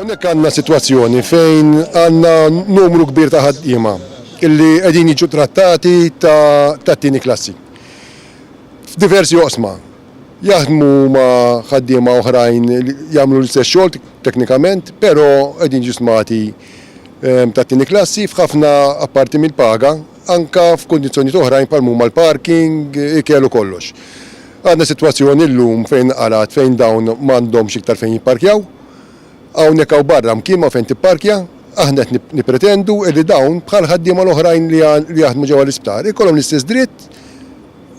Hawnhekk għandna sitwazzjoni fejn għandna numru kbir ta' ħaddiema illi qegħdin jiġu trattati tat-tieni klassi. F'diversi oqsma jaħdmu ma' ħaddiema oħrajn jagħmlu l-istess xogħol teknikament, però qegħdin jiġu stmati ehm, tat-tieni klassi f'ħafna apparti mill-paga, anka f'kundizzjonijiet oħrajn bħal huma l-parking, ikel u kollox. Għandna sitwazzjoni llum fejn nqarat fejn dawn m'għandhomx iktar fejn jipparkjaw. Hawnhekk hawn barra mkien ma' fejn tipparkja. Aħna qed nippretendu li dawn bħall-ħaddiema l-oħrajn li jaħdmu ġewwa l-isptar ikollhom l-istess dritt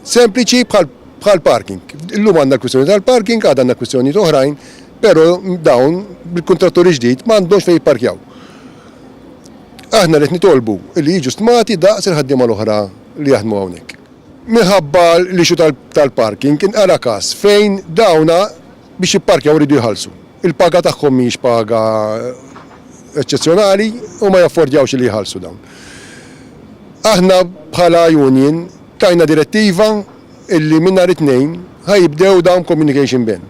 sempliċi bħall-parking. Illum għandna l-kwistjoni tal-parking, għada għandna kwistjonijiet oħrajn, però dawn bil-kuntrattur il-ġdid m'għandhomx fejn jipparkjaw. Aħna qed nitolbu li jiġu stmati daqs il-ħaddiema l-oħra li jaħdmu hawnhekk. minħabba l-issue tal-parking kien ara każ fejn dawn biex jipparkjaw iridu jħallsu. Il-paga tagħhom mhijiex paga eċċezzjonali u ma jaffordjawx li jħallsu dawn. Aħna bħala union tajna direttiva illi minn nhar it-Tnejn ħa jibdew dawn b'communication ban.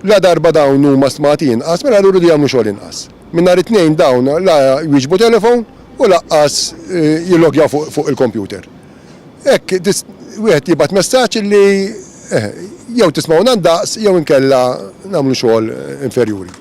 Ladarba dawn huma stmati inqas mela allura iridu jagħmlu xogħol inqas. Minn nhar it-Tnejn dawn la jwieġbu telephone u laqqas jilloggjaw fuq il-computer. Hekk wieħed jibgħat messaġġ li jew tismgħuna ndaqs jew inkella nagħmlu xogħol inferjuri.